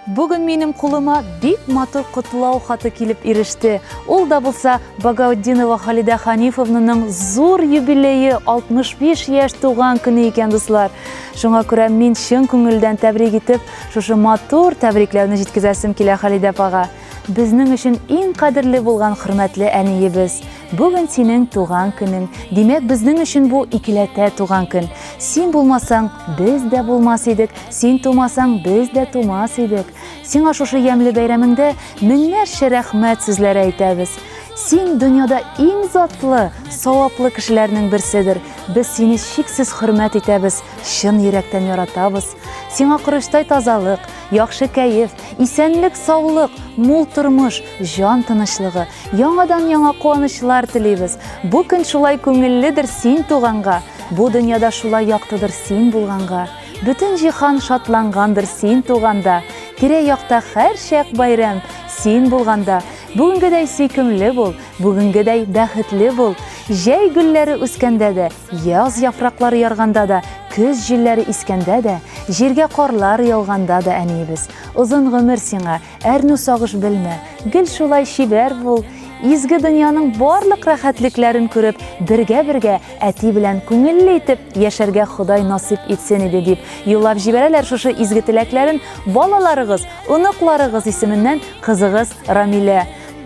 Бүген минем кулыма бик матур котлау хаты килеп иреште. Ул да булса Багаутдинова Халидә Ханифовнаның зур юбилее 65 яшь туган көне икән, дуслар. Шуңа күрә мин чын күңелдән тәбрик итеп, шушы матур тәбрикләүне җиткезәсем килә Халидә апага. Безнең өчен иң кадерле булган хөрмәтле әниебез, бүген синең туган көнең. Димәк, безнең өчен бу икеләтә туган көн. Син булмасаң, без дә булмас идек, син тумасаң, без дә тумас идек. Сиңа шушы ямьле бәйрәмеңдә меңнәрчә рәхмәт сүзләре әйтәбез. Син дөньяда иң затлы, саваплы кешеләрнең берседер. Без сине чиксез хөрмәт итәбез, чын йөрәктән яратабыз. Сиңа корычтай тазалык, яхшы кәеф, Исәнлек, саулык, мул тормыш, җан тынычлыгы, яңадан яңа куанычлар телибез. Бу көн шулай күңелледер син туганга, бу дөньяда шулай яктыдыр син булганга. Бөтен җиһан шатлангандыр син туганда, тирә-якта һәрчак бәйрәм син булганда. Бүгенгедәй сөйкемле бул, бүгенгедәй бәхетле бул. Җәй гөлләре үскәндә дә, Яз яфраклары ярганда да, көз җилләре искәндә дә, җиргә карлар яуганда да әниебез, озын гомер сиңа, әрнү сагыш белмә, гел шулай чибәр бул, изге дөньяның барлык рәхәтлекләрен күреп, бергә-бергә әти белән күңелле итеп яшәргә Ходай насыйп итсен иде, дип юллап җибәрәләр шушы изге теләкләрен балаларыгыз, оныкларыгыз исеменнән кызыгыз Рамилә.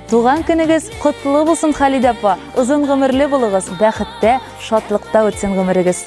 Туган көнегез котлы булсын, Халидә апа! Озын гомерле булыгыз, бәхеттә, шатлыкта үтсен гомерегез!